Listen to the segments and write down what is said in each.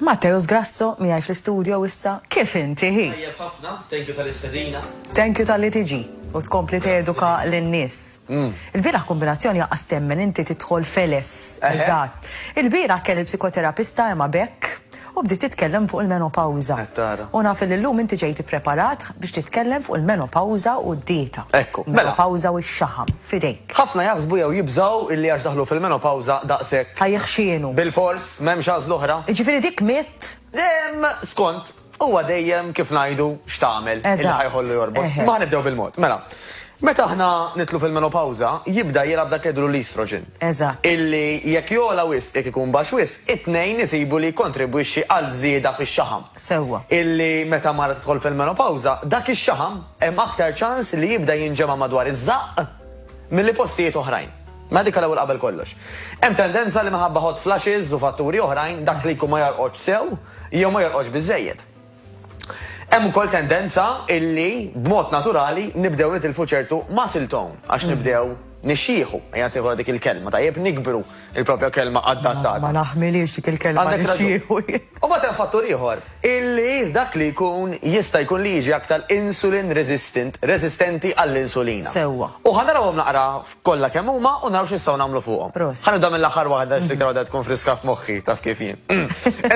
Matteus Grasso miegħi fl-istudio issa kif inti hi? Tajjeb ħafna, thank you tal-istedina. Thank you talli tiġi u tkompli teduka lin-nies. Mm. Il-bieraħ kombinazzjoni jaqas temmen inti tidħol feles. Eżatt. Il-bieraħ kelli psikoterapista Emma Beck u bdiet titkellem fuq il-menopawza. U naf li llum inti ġejt ippreparat biex titkellem fuq il-menopawza u d-dieta. Ekku. Mela. Menopawza u x-xaħam. f'idejk. Ħafna jaħsbu jew jibżgħu illi għax daħlu fil-menopawża daqshekk. Ħa jiħxienu. Bilfors, m'hemmx għażla oħra. Jiġifieri dik mitt? Ehm, skont, huwa dejjem, kif ngħidu, x'tagħmel, illi ħa jħollu jorbot. Eżatt, eħe. Imma ħa nibdew bil-mod. Mela, meta aħna nidħlu fil-menopawża, jibda jilgħab dak li jgħidulu l-estrogen. Eżatt. Illi jekk jogħla wisq, jekk ikun baxx wisq, it-tnejn isibu li jikkontribwixxi għal żieda fix-xaħam. Sewwa. Illi meta mara tidħol fil-menopawża, dak ix-xaħam hemm aktar ċans li jibda jinġema' madwar iż-żaqq milli postijiet oħrajn. Mela dik l-ewwel qabel kollox. Hemm tendenza li minħabba hot flashes u fatturi oħrajn dak li jkun ma jorqodx sew jew ma jorqodx biżżejjed. Hemm ukoll tendenza illi b'mod naturali nibdew nitilfu ċertu muscle tone għax nibdew nixjieħu, ejja nsejħulha dik il-kelma, tajjeb, nikbru, Il-propja kelma adattata. Ma naħmilhiex dik il-kelma. Għandek raġun. U mbagħad hemm fattur ieħor, illi dak li jkun jista' jkun li jiġi aktar insulin resistant, resistenti għall-insulina. Sewwa. U ħa narawhom naqra kollha kemm huma u naraw x'nistgħu nagħmlu fuqhom. Proset. Ħa nibda mill-aħħar waħda għax l-iktar waħda tkun friska f'moħħi, taf kif jien.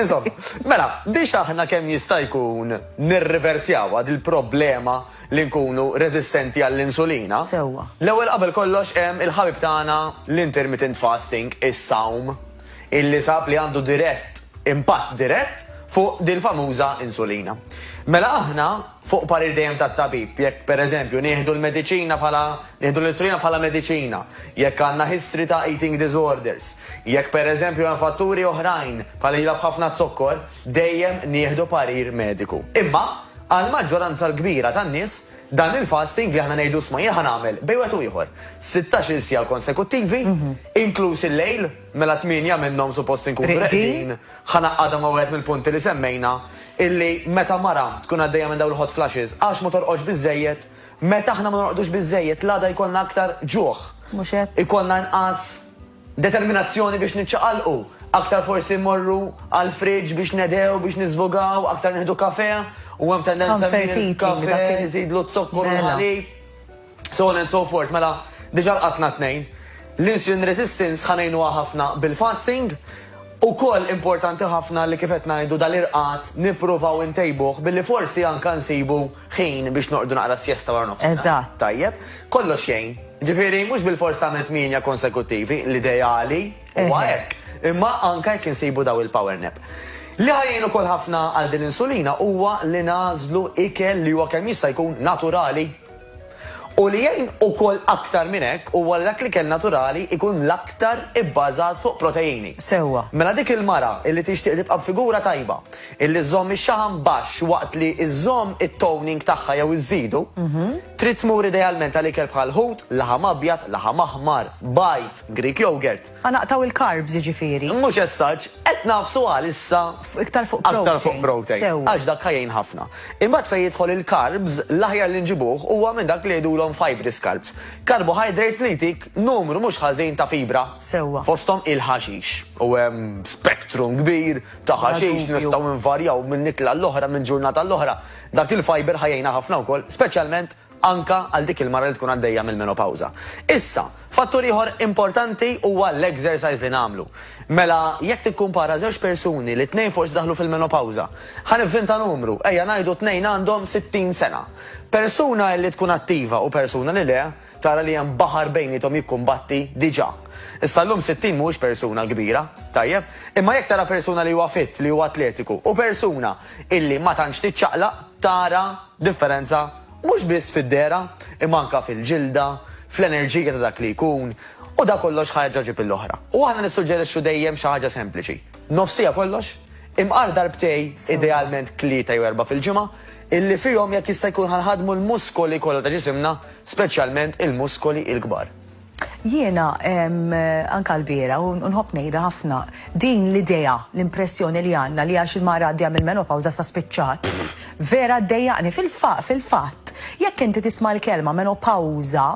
Insomma, mela, biex aħna kemm jista' jkun nirriversjawha dil-problema, li nkunu reżistenti għall-insulina. Sewwa. L-ewwel qabel kollox hemm il-ħabib tagħna l-intermittent fasting, is-sawm, illi sab li għandu dirett, impatt dirett fuq dil-famuża insulina. Mela aħna, fuq parir dejjem tat-tabib, jekk pereżempju nieħdu l-mediċina bħala, nieħdu l-insulina bħala mediċina, jekk għandna history ta' eating disorders, jekk pereżempju hemm fatturi oħrajn bħal ilha b'ħafna zokkor, dejjem nieħdu parir mediku. Imma, għall-maġġoranza l-kbira tan-nies, dan il-fasting li aħna ngħidu isma' jien ħa nagħmel bejn wieħed u ieħor sittax-il siegħa konsekuttivi, inkluż il-lejl, mela tmienja minnhom suppost inkunu reqdin, ħa ngħaqqadha ma' wieħed mill-punti li semmejna, illi meta mara tkun għaddejja minn dawn il-hot flashes għax ma torqodx biżżejjed, meta aħna ma norqdux biżżejjed l-għada jkollna aktar ġuħ, ikollna inqas, Determinazzjoni biex niċċaqalqu, aktar forsi mmorru għall-fridge biex nedhew, biex niżvugaw, aktar nieħdu kafè, u hemm tendenza li l-kafè iżidlu z-zokkor u l-ħalib, so on and so forth. Mela, diġà lqatna tnejn. L-insulin resistance ħa ngħinuha ħafna bil-fasting. Ukoll importanti ħafna li kif qed ngħidu dal-irqad nippruvaw intejbuh billi forsi anke nsibu ħin biex noqogħdu naqra s-siesta wara nofsinhar. Eżatt. Tajjeb. Kollox jgħin. Ġifieri mhux bilfors tagħmel tmienja konsekuttivi, l-ideali huwa hekk. Imma anke jekk insibu daw il-power nap. Li ħa jgħin ukoll ħafna għal din l-insulina huwa li nagħżlu ikel li huwa kemm jista' jkun naturali. U li jgħin ukoll aktar minn hekk huwa li dak l-ikel naturali jkun l-aktar ibbażat fuq proteini. Sewwa. Mela dik il-mara li tixtieq tibqa' b'figura tajba, li żżomm ix-xaħam baxx waqt li żżomm it-toning tagħha jew iżżidu, trid tmur idealment għal ikel bħal ħut, laħam abjad, laħam aħmar, bajd, Greek yogurt. Ħa naqtgħu il-carbs jiġifieri. Mhux as such, qed nagħfsu għalissa. Iktar fuq protein. Aktar fuq protein. Sewwa. Għax dak ħa jgħin ħafna. Imbagħad fejn jidħol il-carbs, l-aħjar li nġibuh huwa minn dak li jgħidulhom fibrous carbs. Carbohydrates li jtik numru mhux ħażin ta' fibra. Sewwa. Fosthom il-ħaxix. U hemm spectrum kbir ta' Bla ħaxix li dubju. nistgħu nvarjaw minn ikla għall-oħra, minn ġurnata għall-oħra. Dak il-fiber ħa jgħinha ħafna wkoll, speċjalment anke għal dik il-mara li tkun għaddejja mill-menopawża. Issa, fattur ieħor importanti huwa l-exercise li nagħmlu. Mela, jekk tikkumpara żewġ persuni li t-tnejn forsi daħlu fil-menopawża, ħa nivvinta numru, ejja ngħidu t-tnejn għandhom 60 sena. Persuna li tkun attiva u persuna li le, tara li hemm baħar bejniethom jikkumbatti diġà. Issa llum 60 mhuwiex persuna kbira, tajjeb? Imma jekk tara persuna li huwa fit, li huwa atletiku, u persuna illi ma tantx tiċċaqlaq, tara Differenza mhux biss fid-dehra imma anke fil-ġilda, fl-enerġija ta' dak li jkun, u dan kollox ħa jerġa' jġib lill-oħra. U aħna nissuġġerixxu dejjem xi ħaġa sempliċi, nofsija kollox, imqar darbtej, idealment tlieta jew erbgħa fil-ġimgħa, illi fihom jekk jista' jkun ħa nħaddmu l-muskoli kollha ta' ġisimna, speċjalment il-muskoli l-kbar. Jiena, anke lbieraħ, u nħobb ngħidha ħafna, din l-idea, l-impressjoni li għandna li għax il-mara għaddejja mill-menopawża issa spiċċat, vera ddejjaqni. Fil-fatt, jekk inti tisma' l-kelma menopawża,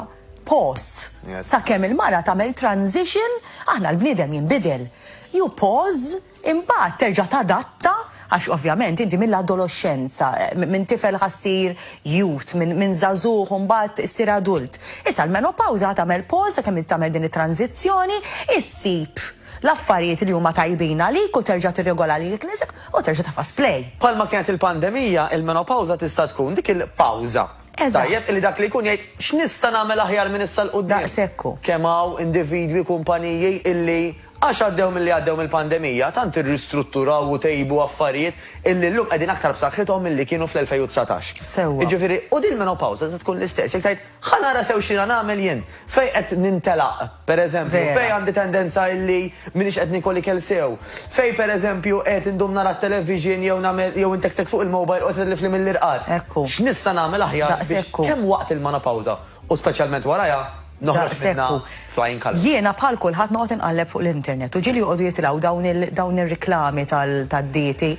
pause, sakemm il-mara tagħmel transition, aħna l-bniedem jinbidel. You pause. Imbagħad terġa' tadatta, għax ovvjament inti mill-adoloxxenza, minn tifel ħa ssir youth, minn żagħżugħ imbagħad issir adult. Issa l-menopawża ħa tagħmel pause sakemm inti tagħmel din it-tranżizzjoni, issib l-affarijiet li huma tajbin għalik u terġa' tirregola lilek innifsek u terġa' tafas play. Bħalma kienet il-pandemija, il-menopawża tista' tkun dik il-pawża. Eżatt. Tajjeb illi dak li jkun jgħid, x'nista' nagħmel aħjar minn issa 'l quddiem? Daqshekk hu. Kemm hawn individwi, kumpaniji illi. Għax għaddew milli għaddew mill-pandemija, tant irristrutturaw u tejbu affarijiet illi llum qegħdin aktar b'saħħithom milli kienu fl-2019. Sewwa. Jiġifieri, u din il-menopawża se tkun l-istess. Jekk tgħid, ħa nara sew x'jiena nagħmel jien. Fejn qed nintelaq, pereżempju. Vera. Fejn għandi tendenza illi m'iniex qed niekol ikel sew. Fejn, pereżempju, qed indum nara t-television jew nagħmel, jew intektek fuq il-mobile u qed itlifli mill-irqad. Hekk hu. X'nista' nagħmel aħjar biex. Daqshekk hu. Kemm waqt il-menopawża u speċjalment warajha. Noħroġ minnha flying colours. Jiena bħal kulħadd noqgħod inqalleb fuq l-internet u ġieli joqogħdu jitilgħu dawn il dawn ir-riklami tal tad-dieti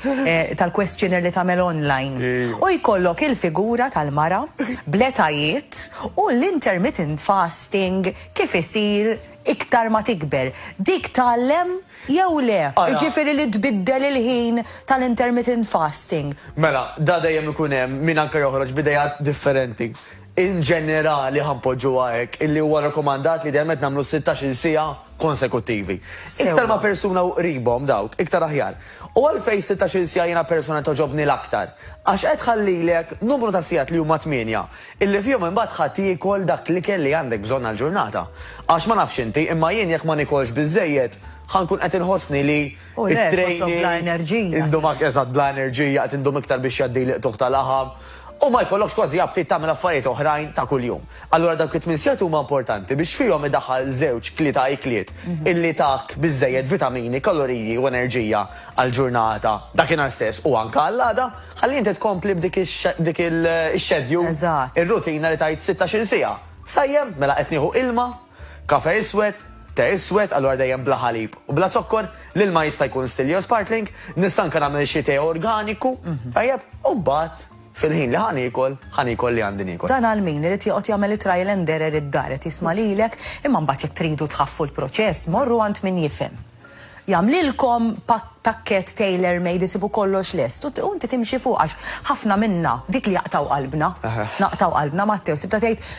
tal-questionnaire li tagħmel online. U jkollok il-figura tal-mara bl-etajiet u l-intermittent fasting kif isir iktar ma tikber. Dik tgħallem jew le? Jiġifieri li tbiddel il-ħin tal-intermittent fasting. Mela, da dejjem ikun hemm min anke joħroġ b'ideat differenti. In ġenerali, ħa npoġġuha hekk, illi huwa rakkomandat li idealment nagħmlu sittax-il siegħa konsekuttivi. Iktar ma' persuna u qribhom dawk, iktar aħjar. U għalfejn sittax-il siegħa jiena personalment togħġobni l-aktar? Għax qed tħallilek numru ta' sigħat li huma tmienja, illi fihom imbagħad ħa tiekol dak l-ikel li għandek bżonn għall-ġurnata. Għax ma nafx inti, imma jien jekk ma niekolx biżżejjed, ħa nkun qed inħossni li, U le, qosok bla enerġija. Indum ak, eżatt, bla enerġija, qed indum iktar biex jgħaddi l-iqtugħ ta' laħam, u ma jkollokx kważi aptit tagħmel affarijiet oħrajn ta' kuljum. Allura dawk it-tmien sigħat huma importanti biex fihom idaħħal żewġ, tlieta ikliet illi tak biżżejjed vitamini, kaloriji u enerġija għall-ġurnata, dakinhar stess u anke għall-għada, ħalli inti tkompli b'dik b'dik il-schedule, ir-rutina li tgħid sittax-il siegħa. Sajjem? Mela qed nieħu ilma? Kafè iswed, te iswed, allura dejjem bla ħalib u bla zokkor, l-ilma jista' jkun still jew sparkling, nista' anke nagħmel xi te organiku, tajjeb, u mbagħad fil-ħin li ħa niekol, ħa niekol li għandi niekol. Dan għal min irid joqgħod jagħmel it-trial and error id-dar, qed jisma' lilek, imma mbagħad jekk tridu tħaffu l-proċess, morru għand min jifhem. Jagħmlilkom pakkett tailor made isibu kollox lest u inti timxi fuq għax ħafna minna, dik li jaqtgħu qalbna, naqtgħu qalbna Matteo sibtha tgħid,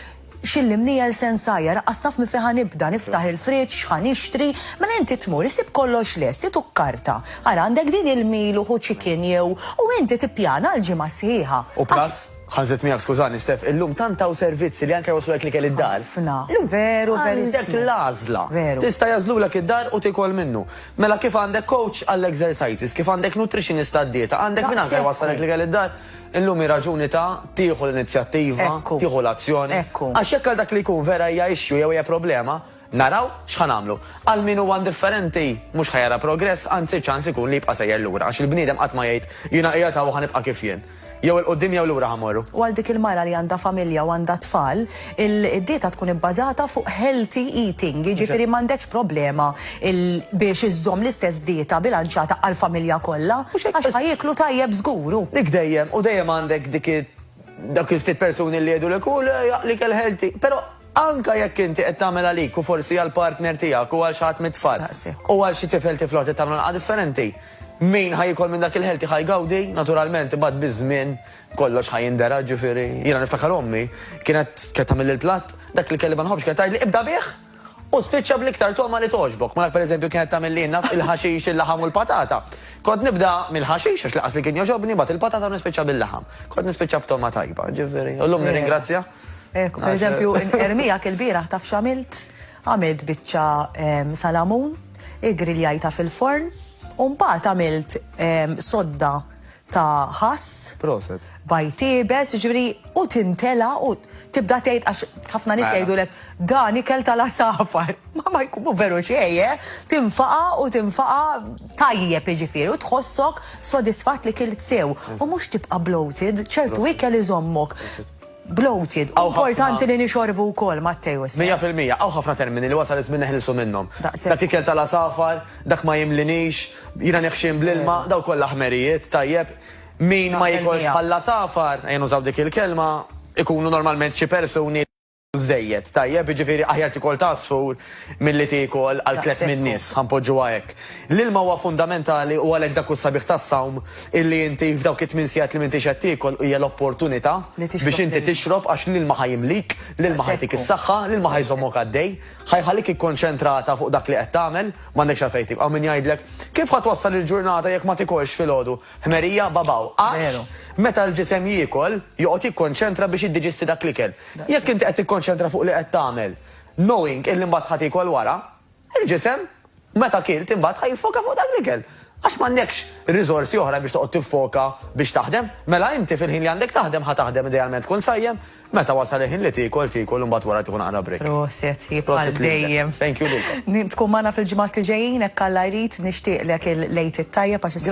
X'illi mniegħel se nsajjar, aqqas naf minn fejn ħa nibda, niftaħ il-fridge, x'ħa nixtri, mela inti tmur isib kollox lest, int u karta, ara għandek din il-meal u hu chicken jew, u inti tippjana għall-ġimgħa sħiħa. U plus Ħażet miegħek skużani Steph, illum tant hawn servizzi li anke jwasslulek l-ikel id-dar. Ħafna. Veru verissmu. Għandek l-għażla. Veru. Tista' jagħżlulek id-dar u tiekol minnu. Mela kif għandek coach għall-exercises, kif għandek nutritionist għad-dieta, għandek min anke jwassalek l-ikel id-dar, illum hi raġuni ta' tieħu l-inizjattiva, tieħu l-azzjoni. Għax jekk għal dak li jkun vera hija issue jew hija problema, Naraw x'ħa nagħmlu. Għal min huwa indifferenti, mhux ħa jara progress, anzi ċ-ċans ikun li jibqa' sejjer lura, għax il-bniedem qatt ma jgħid, jiena qiegħed hawn u ħa nibqa' kif jien. Jew 'il quddiem jew lura ħa mmorru. U għal dik il-mara li għandha familja u għandha t-tfal, il-dieta tkun ibbażata fuq healthy eating, jiġifieri m'għandekx problema biex iżżomm l-istess dieta bilanċjata għall-familja kollha, għax ħa jieklu tajjeb żgur. U. Dik dejjem, u dejjem għandek dik, dawk il-ftit persuni li jgħidulek, hu le, l-ikel healthy, però, Anke jekk inti qed tagħmel għalik u forsi għall-partner tiegħek u għal xi ħadd mit-tfal, u għal xi tifel tifla oħra trid tagħmlu naqra differenti, min ħa jiekol minn dak il-healthy ħa jgawdi, naturalment, imbagħad biż-żmien kollox ħa jindergħa, ġifieri, jiena niftakar ommi kienet kienet tagħmilli l-platt, dak li kelli ma nħobbx kienet tgħidli ibda bih u spiċċa bl-iktar togħma li togħġbok. Malak pereżempju kienet tagħmilli naf il-ħaxix, il-laħam u l-patata. Kont nibda mill-ħaxix għax laqas li kien joġobni, bat il-patata nispiċċa bil-laħam. Kont nispiċċa b'togħma tajba, ġifieri. U llum nirringrazzja. Ekku, per eżempju, ermijak il-biraħ taf xamilt, għamilt bicċa ehm, salamun, igriljajta fil-forn, un bat għamilt ehm, sodda ta' ħass. Proset. Bajtibes, ġviri, u tintela u tibda tgħid għax ħafna nis mela. jgħidulek dan ikel tal-asafar. Ma ma jkunu veru xejje, eh? tinfaqa u tinfaqa tajjeb iġifieri u tħossok sodisfat li kilt sew. U mhux tibqa' bloated, ċertu ikel iżommok. bloated. Hawn ħafna- Importanti li nixorbu wkoll, Matteo, issa. Mija fil-mija, hawn ħafna termini li wasal iż-żmien neħilsu minnhom. Daqshekk. Dak ikel tal-għasafar, dak ma jimlinix, jiena neħxien bl-ilma, dawn kollha ħmerijiet, tajjeb. Min ma Naqbel jiekolx miegħek. bħall-għasafar, ejja nużaw dik il-kelma, ikunu normalment xi persuni li jieħdu żżejjed, tajjeb, jiġifieri aħjar tiekol t'għasfur, Milli tieku għal tlett min-nies, ħa npoġġuha hekk. L-ilma huwa fundamentali u għalhekk dak hu s-sabiħ tas-sawm, illi inti f'dawk it-tmien sigħat li m'intix qed tiekol hija l-opportunità biex inti tixrob għax l-ilma ħa jimlik, l-ilma ħa jtik is-saħħa, l-ilma ħa jżommok għaddej, ħa jħallik ikkonċentrata fuq dak li qed tagħmel, m'għandekx għalfejn tiekol. Hawn min jgħidlek, kif ħa twassal il-ġurnata jekk ma tikolx filgħodu? Ħmerija, babaw. Għax meta l-ġisem jiekol, joqgħod jikkonċentra biex jiddiġisti dak l-ikel. Jekk inti qed tikkonċentra fuq li qed tagħmel, Knowing illi mbagħad ħa tiekol wara, il-ġisem meta kilt imbagħad ħa jiffoka fuq dak l-ikel. Għax m'għandekx riżorsi oħra biex toqgħod tiffoka biex taħdem. Mela inti fil-ħin li għandek taħdem ħa taħdem idealment tkun sajjem, meta wasal il-ħin li tiekol tiekol u mbagħad wara tieħu naqra break. Prosit hi bħal dejjem. Thank you lilkom. Tkun magħna fil-ġimgħat li ġejjin hekk Alla jrid, nixtieqlek il-Lejt it-Tajjeb għax issa.